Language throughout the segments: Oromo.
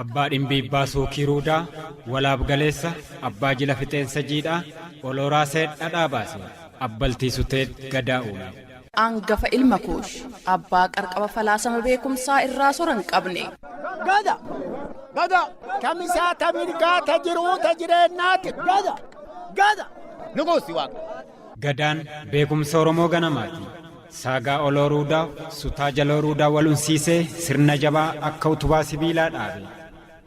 abbaa dhimbiibbaa suukii ruudaa walaab galeessa abbaa jila fixeensa jiidhaa olooraa seedha dhaabaase abbaltii sutee gadaa uume. angafa ilma kuush abbaa qarqaba falaasama beekumsaa irraa sora hin qabne. gada gada tamisaa tamirgaa ta jiruu ta jireennaati gada gada nuguusi waaqa. Gadaan beekumsa Oromoo ganamaati. Saagaa oloo ruudaa, sutaa jaloo ruudaa wal unsiisee sirna jabaa akka utubaa sibiilaa dhaabe.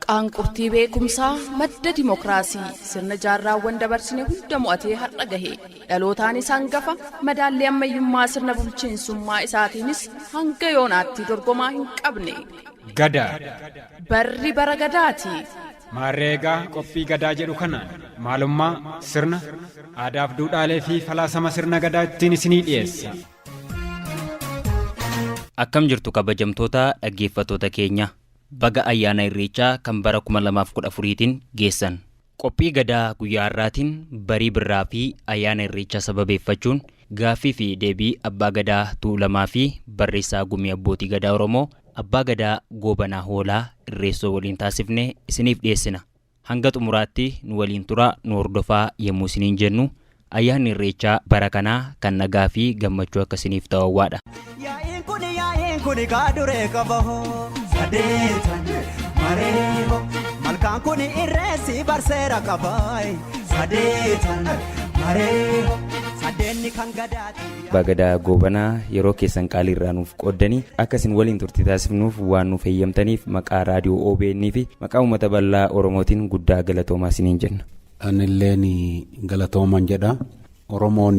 Qaanqurtii beekumsaa, madda dimokiraasii, sirna jaarraawwan dabarsine hunda mo'atee har'a gahe. Dhalootaanis hangafa, madaallii ammayyummaa sirna bulchiinsummaa isaatiinis hanga yoonaatti dorgomaa hin qabne. Gadaa! Barri bara Gadaati! Maarree egaa qophii Gadaa jedhu kanaan maalummaa, sirna, aadaaf duudhaalee fi falaasama sirna Gadaa ittiin isinii dhiyeessa. Akkam jirtu kabajamtoota dhaggeeffattoota keenya. Baga ayyaana Irreechaa kan bara 2014tiin geessan. Qophii Gadaa guyyaa har'aatiin barii birraa fi ayyaana Irreechaa sababeeffachuun Gaaffii fi deebii Abbaa Gadaa Tuulamaa fi Barreessaa Gumii Abbootii Gadaa Oromoo Abbaa Gadaa Goobanaa Hoolaa Irreessoo waliin taasifne isiniif dhiyeessina. Hanga xumuraatti nu waliin turaa, nu hordofaa yemmuu isiniin jennu, Ayyaanni Irreechaa bara kanaa kan nagaa fi gammachuu akka isiniif ta'u hawwaadha. Yaa'iin kun yaa'iin kun kaa duree qaba hoo. Sadeetan maree hoo. Malkaan kun irreessi barseera qabaayi. Sadeetan maree hoo. Sadeenni kan gadaati. Abbaa Gadaa Goobanaa yeroo keessan qaalii irraa nuuf qooddanii akka isin waliin turtii taasifnuuf waan nuuf heeyyamtaniif maqaa raadiyoo OBN fi maqaa uummata bal'aa Oromootiin guddaa galatoomaa isiniin jenna. Anilleen galatooman jedha. Oromoon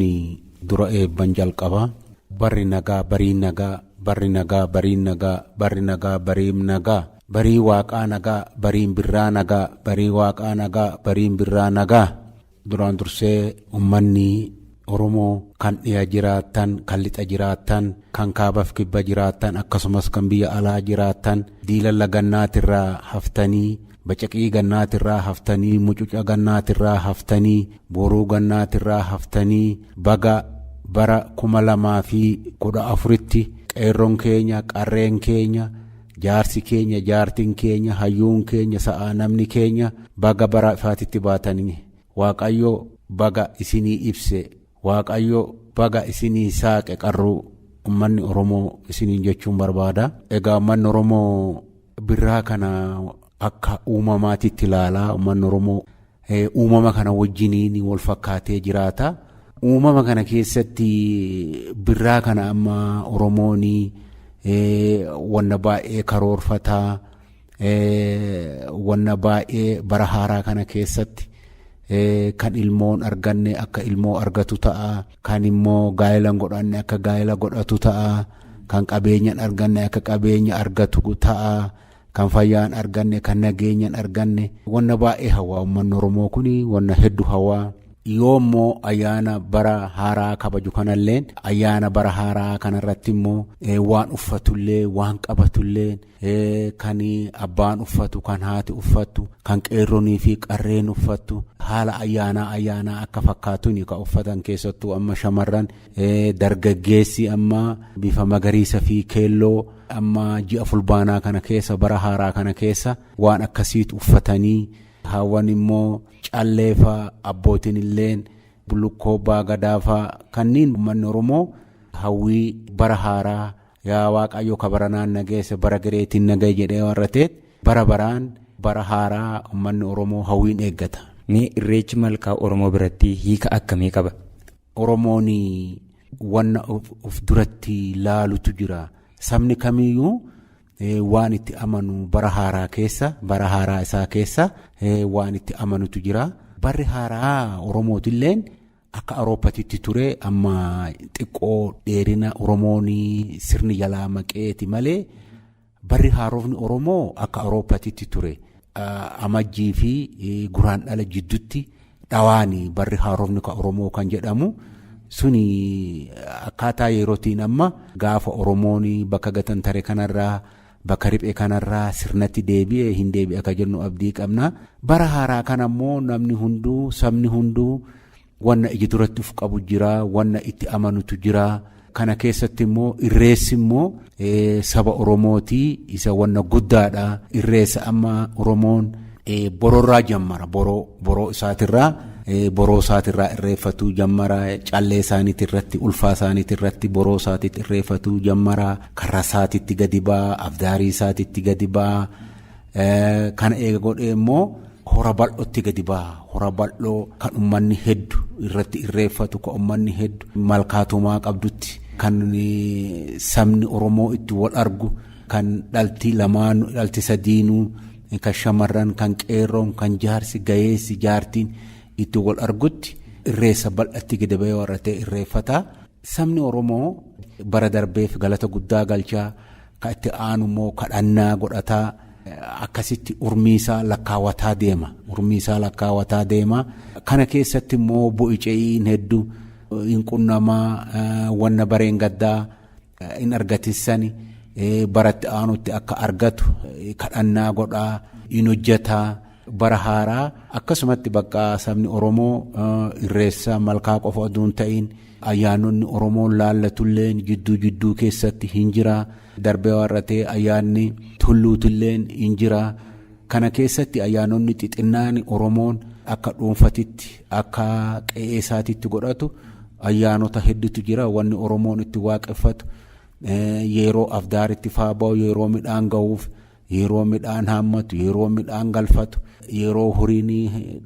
dura eebban jalqaba. Barri nagaa barii nagaa Barri nagaa bariin nagaa Barri nagaa bariim nagaa Barii waaqaa nagaa bariin birraa nagaa Barii waaqaa nagaa bariin birraa nagaa Duraan dursee ummanni Oromoo kan dhiya jiraattan kan lixa jiraattan kan kaabaf kibba jiraattan akkasumas kan biyya alaa jiraattan diilalla gannaatirraa haftanii Bacaqii gannaatirraa haftanii mucuca gannaatirraa haftanii boruu gannaatirraa haftanii baga bara 2014tti qeerron keenya qarreen keenya jaarsi keenya jaartin keenya hayyuun keenya sa'aa namni keenya baga bara ifaatitti baatanii waaqayyo baga isinii ibse Waaqayyo baga isinii saaqe qarruu ummanni Oromoo isiniin jechuun barbaada. Egaa ummanni Oromoo birraa kana akka uumamaatitti ilaala. Ummanni Oromoo uumama kana wajjiniin wal fakkaatee jiraata. Uumama kana keessatti birraa kana amma Oromoon wanna baay'ee karoorfataa. Wanna baay'ee bara haaraa kana keessatti kan ilmoon arganne akka ilmoo argatu ta'a. Kan immoo gaa'ela hin godhanne akka gaa'ela godhatu ta'a. Kan qabeenya hin arganne akka qabeenya argatu ta'a. Kan fayyaa hin arganne kan nageenya hin arganne. Wanna baay'ee hawaa uummanni Oromoo kun wanna hedduu hawaa. Yoo immoo ayyaana bara haaraa kabaju kanalleen ayyaana bara haaraa kanarratti immoo waan uffatullee waan qabatullee kan abbaan uffatu kan haati uffattu kan qeerronii fi qarreen uffattu haala ayyaanaa ayyaanaa akka fakkaatuun kan uffatan keessattuu amma shamarran dargaggeessi amma bifa magariisa fi keelloo amma ji'a fulbaanaa kana keessa bara haaraa kana keessa waan akkasiitu uffatanii haawwan immoo calleefa abbootiin illeen bullukkoo baagadaafaa kanneen uummanni oromoo hawwii bara haaraa. Yaa Waaqayyo ka baranaan na geesse bara gereetiin na gahe jedhee warra ta'eet bara baraan bara haaraa uummanni Oromoo hawwiin eeggata. Mee Irreechi Malkaa Oromoo biratti hiika akkamii qaba? Oromoon wanna of duratti laalutu jira. Sabni kamiyyuu waan itti amanu bara haaraa keessa bara haaraa isaa keessa waan itti amanutu jira. Barri haaraa Oromootilleen Akka Awurooppatitti ture amma xiqqoo dheerina Oromoon sirni jalaa maqeeti malee barri haarofni Oromoo akka Awurooppatitti ture amajjii fi guraan dhala jiddutti dhawaani barri haarofni ka Oromoo kan jedhamu suni akkaataa yerootiin amma gaafa Oromoon bakka gatantare kanarraa Bakka riphee kanarraa sirnatti deebi'e hin deebi'a akka jennu abdii qabna. Bara haaraa kana immoo namni hunduu sabni hunduu wanna iji duratti uf qabu jira, wanna itti amanutu jira. Kana keessatti immoo irreessi immoo saba Oromooti isa wanna guddaadha. Irreessa amma Oromoon bororraa jammara boroo boroo isaatirraa boroo isaatirraa irreeffatuu jammara callee isaaniitirratti ulfaa isaaniitirratti boroo isaatiitti irreeffatuu jammara. Karra isaatitti gadi ba'a, afdaarii isaatitti gadi ba'a. Kana eega godhee immoo hora bal'ootti gadi ba'a. Hora bal'oo kan ummanni heddu irratti irreeffatu, kan ummanni heddu malkaa tumaa qabdutti, kan sabni Oromoo itti wal argu, kan dhalti lamaanu, dhalti sadiinuu, kan shamarran, kan qeerroon, kan jaarsi, gayeessi, jaartiin itti wal argutti irreessa bal'atti gadi ba'ee warra ta'e irreeffata. Sabni Oromoo bara darbeef galata guddaa galchaa ka itti aanu immoo kadhannaa godhataa akkasitti urmiisaa lakkaawataa deema. Urmiisaa lakkaawataa deema. Kana keessatti immoo bu'ice'iin heddu hin qunnamaa wanna bareen gaddaa hin argatissani baratti aanutti akka argatu kadhannaa godhaa hin hojjetaa. Bara haaraa akkasumatti bakka sabni Oromoo irreessa malkaa qofa oduu hin ta'iin ayyaanonni Oromoon laallatulleen jidduu jidduu keessatti hin jira. Darbee warratee ayyaanni tulluutilleen hin jira. Kana keessatti ayyaanonni xixinnaan Oromoon akka dhuunfatitti akka qe'ee isaatitti godhatu ayyaanota hedduutu jira. Wanni Oromoon itti waaqeffatu yeroo afdaaritti faa ba'u yeroo midhaan ga'uuf Yeroo midhaan haammatu, yeroo midhaan galfatu, yeroo horiin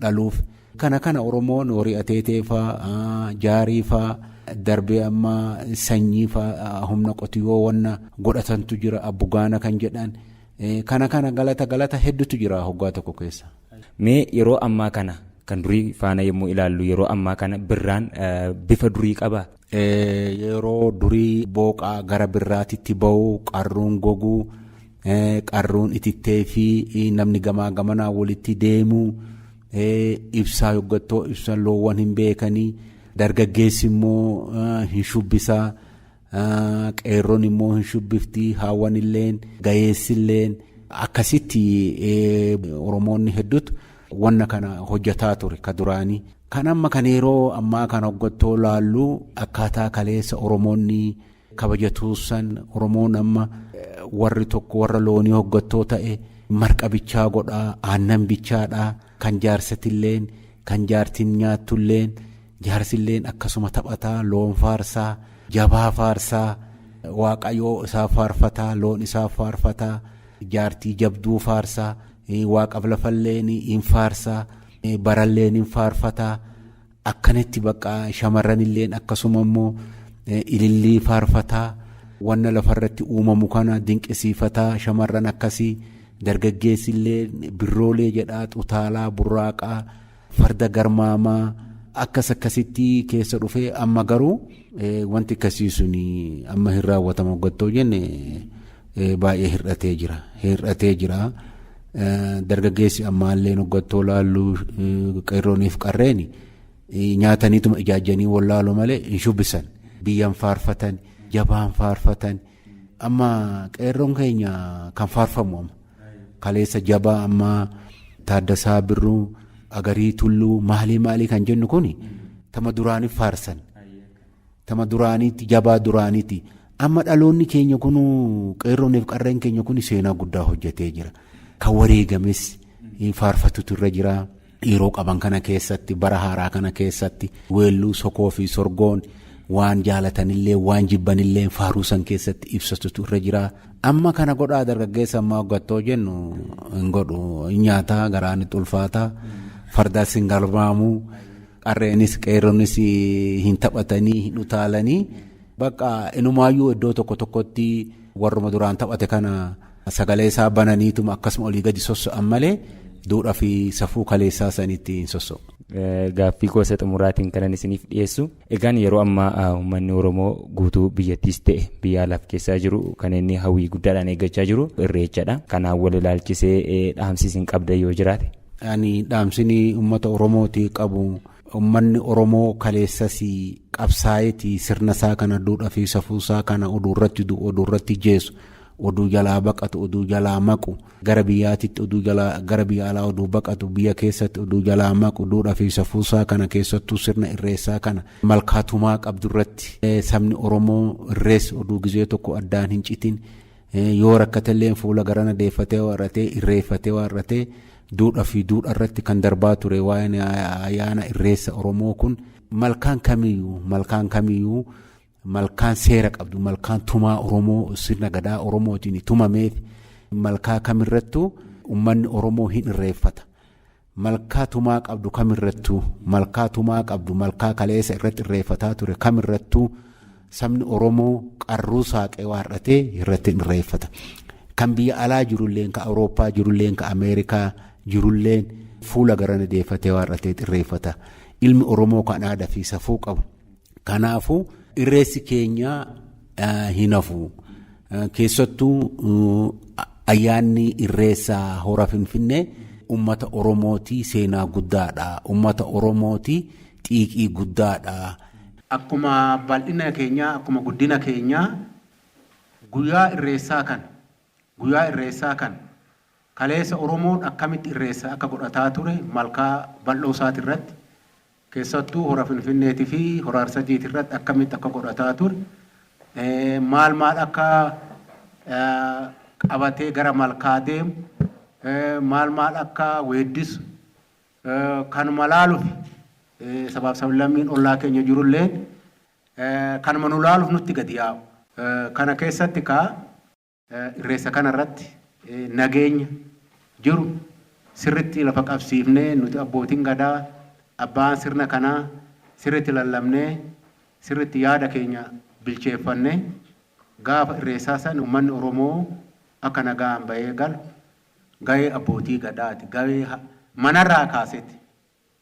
dhaluuf. Kana kana Oromoon horii ateetee faa, jaarii faa, darbee amma sanyii faa humna qotiyyoo wanna godhatantu jira abbugaana kan jedhan. Kana kana galata galata hedduutu jira hoggaa tokko keessa. Mee yeroo ammaa kana kan durii faana yommuu ilaallu yeroo ammaa kana birraan bifa durii qabaa? Yeroo durii booqaa gara birraatitti ba'u qarruun gogu qarruun itittee fi namni gamaa gamanaa walitti deemu ibsaa yoggattoo ibsan loowwan hin beekanii dargaggeessi immoo hin shubbisaa qeerroon immoo hin shubbifti haawwan illeen gayeessi illeen akkasitti oromoonni hedduutu Wanna kana hojjataa ture ka duraanii. Kan amma kan yeroo ammaa kan hoggattoo laallu akkaataa kaleessa Oromoonni kabajatuussan Oromoon amma warri tokko warra loonii hoggattoo ta'e marqa bichaa godhaa aannan bichaadhaa kan jaarsatilleen kan jaartiin nyaattulleen jaarsilleen akkasuma taphataa loon faarsaa jabaa faarsaa waaqayoo isaa faarfataa loon isaa faarfataa jaartii jabduu faarsaa Waaqaf lafalleen hin faarsa baralleen hin faarfata akkanitti bakka shamarranilleen akkasuma immoo ilillii faarfata wanna lafarratti uumamu kana dinqisiifata shamarran akkasii dargaggeessillee birroolee jedhaa xutaalaa burraaqaa. Farda garmaamaa akkas akkasitti keessa dhufee amma garuu wanti akkasii sun amma hin raawwatamu gattoo jenne baay'ee hir'atee jira. Hir'atee jira. Dargaggeessi ammaallee gattoo laallu qeerrooniif qarreeni nyaataniituma ijaajjanii wallaalu malee hin shubbisan. Biyyaan faarfatan, jabaan faarfatan. Amma qeerroon keenya kan faarfamu amma. Kaleessa jabaa ammaa Taaddasaa Birruu Agarii Tulluu maalii maalii kan jennu kun tama duraaniif faarsan. Tama duraaniitti jabaa duraaniitti amma dhaloonni keenya kun qeerrooniif qarreen keenya kun seenaa guddaa hojjetee jira. Kan wareegames faarfatutu irra jira. yeroo qaban kana keessatti bara haaraa kana keessatti weelluu sokoo fi sorgoon waan jaalatanillee waan jibbanillee faaruu san keessatti ibsatutu irra jira. Amma kana godhaa dargaggeessa ammaa hoggattoo jennu hin godhu hin nyaataa garaan itti ulfaataa fardaas hin galmaamuu qarreenis qeerronis hin taphatanii hin utaalanii bakka inumaayyuu iddoo tokko tokkotti warruma duraan taphate kana. Sagalee isaa bananiituma akkasuma olii gadi sosso'an malee duudhaa fi safuu kaleessaa sanitti hin sosso'u. Gaaffii koo isa xumuraatiin kanan isiniif dhiyeessu egaan yeroo ammaa uummanni Oromoo guutuu biyyattiis ta'e biyya alaaf keessaa jiru kan inni hawwii guddaadhaan eeggachaa jiru irreechadha. Kanaan wal ilaalchisee dhaamsi isin qabdan yoo jiraate. Ani dhaamsini uummata Oromooti qabu Ummanni Oromoo kaleessas qabsaa'eeti sirna isaa kana duudhaa fi safuu isaa kana oduu irratti du'u, oduu irratti jeesu, oduu jalaa baqatu, oduu jalaa maqu, gara biyyaatitti oduu jalaa gara biyya alaa oduu baqatu, biyya keessatti oduu jalaa maqu, duudhaa fi safuu isaa kana keessattuu sirna irreessaa kana malkaa tumaa qabdu irratti sabni Oromoo irreessi oduu gizee tokko addaan hin citin Yoo rakkatelleen fuula garana deeffatee yoo har'ate, irreeffatee yoo har'ate, duudhaa fi duudharratti kan darbaa ture waa'een ayyaana irreessa Oromoo kun malkaan kamiyyuu malkaan kamiyyuu malkaan seera qabdu malkaan tumaa Oromoo sirna gadaa Oromootiin tumameef malkaa kamirrattuu ummanni Oromoo hin irreeffata. Malkaa tumaa qabdu kamirrattuu, malkaa tumaa qabdu, malkaa kaleessa irratti irreeffataa ture kamirrattuu sabni Oromoo qarruu saaqee waar'atee irratti hin irreeffata. Kan biyya alaa jirulleen, kan Awurooppaa jirulleen, kan Ameerikaa jirulleen fuula garana deeffatee waar'atee irreeffata. Ilmi Oromoo kan aadaa fi safuu qabu Kanaafuu irreessi keenya hin hafu. Keessattuu ayyaanni irreessa hora Finfinnee uummata Oromootii seenaa guddaadha. Uummata Oromootii xiiqii guddaadha. Akkuma bal'ina keenyaa, akkuma guddina keenyaa guyyaa irreessaa kana, guyyaa irreessaa kana kaleessa Oromoon akkamitti irreessa akka godhataa ture malkaa bal'oo isaati irratti Keessattuu Hora Finfinneetii fi Hora Arsadeeti irratti akkamitti akka godhataa ture, maal maal akka qabatee gara malkaa deemu, maal maal akka weeddisu kanuma laaluuf sabaa fi sablammiin ollaa keenya jiru illeen kanuma nu laaluuf nutti gadi yaa'u. Kana keessatti egaa Irreessa kana irratti nageenya jiru sirritti lafa qabsiifnee nuti abbootiin Gadaa, abbaan sirna kanaa sirritti lallabnee sirritti yaada keenya bilcheeffannee gaafa irreessaa san ummanni Oromoo akka nagaan bahee galu gahee abbootii Gadaati. Gahee manarraa kaaseeti.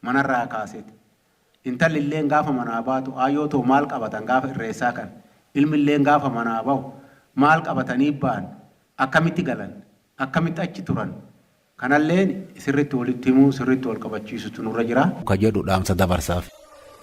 manarraa kaaseti. Intalli illeen gaafa manaa baatu aayyoo too maal qabatan gaafa irreessaa kana? Ilmi illeen gaafa manaa bahu maal qabatanii bahan? Akkamitti galan? Akkamitti achi turan? Kanalleen sirritti walitti himuu, sirritti wal qabachiisutu nurra jira. ka jedhu dhaamsa dabarsaaf.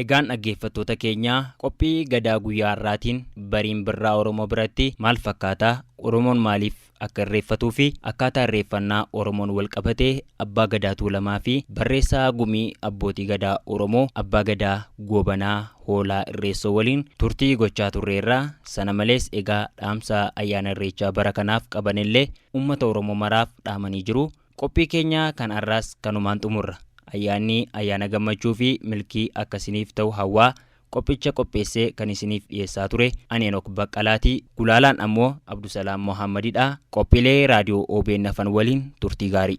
Egaan dhaggeeffattoota keenya, qophii Gadaa guyyaa har'aatiin bariin Birraa Oromoo biratti maal fakkaata, Oromoon maaliif akka irreeffatuufi akkaataa irreeffannaa Oromoon walqabatee Abbaa Gadaa Tuulamaafi barreessaa Gumii Abbootii Gadaa Oromoo Abbaa Gadaa Goobanaa Hoolaa Irreessoo waliin turtii gochaa turreerra. Sana malees egaa dhaamsa ayyaana Irreechaa bara kanaaf qabanillee uummata Oromoo maraaf dhaamanii jiru. Qophii keenya kan arraas kanumaan xumurra. Ayyaanni ayyaana gammachuu fi milkii akka isiniif ta'u hawwaa, qophicha qopheessee kan isiniif dhiyeessaa ture ani Henok Baqqalaati. Gulaalaan ammoo Abdusalaam Mohaammadidha. Qophiilee Raadiyoo obn hafan waliin turtii gaarii.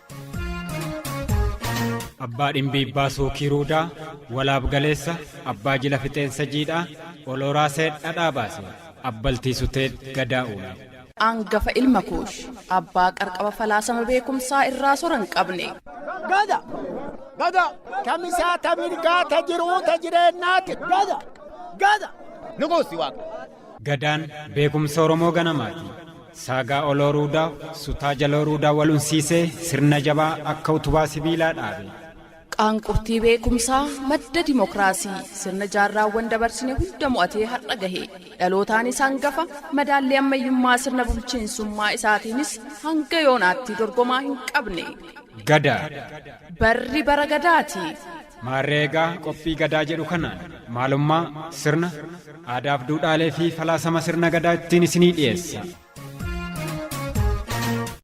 abbaa dhimbiibbaa suukii ruudaa walaab galeessa abbaa jila fixeensa jiidhaa olooraa seed dhadhaa baase abbaltii suteed gadaa uume. angafa ilma kuush abbaa qarqaba falaasama beekumsaa irraa sora hin qabne. gada gada tamisaa tamirgaa ta jiruu ta jireennaati gada gada. nuguusi waaqa. Gadaan beekumsa Oromoo ganamaati. Saagaa oloo ruudaa, sutaa jaloo ruudaa wal unsiisee sirna jabaa akka utubaa sibiilaa dhaabe. Qaanqurtii beekumsaa, madda dimokiraasii, sirna jaarraawwan dabarsine hunda mo'atee har'a gahe. Dhalootaanis hangafa, madaallii ammayyummaa sirna bulchiinsummaa isaatiinis hanga yoonaatti dorgomaa hin qabne. Gadaa! Barri bara Gadaati! Maarree egaa qophii Gadaa jedhu kanaan maalummaa, sirna, aadaaf duudhaalee fi falaasama sirna Gadaa ittiin isinii dhiyeessa.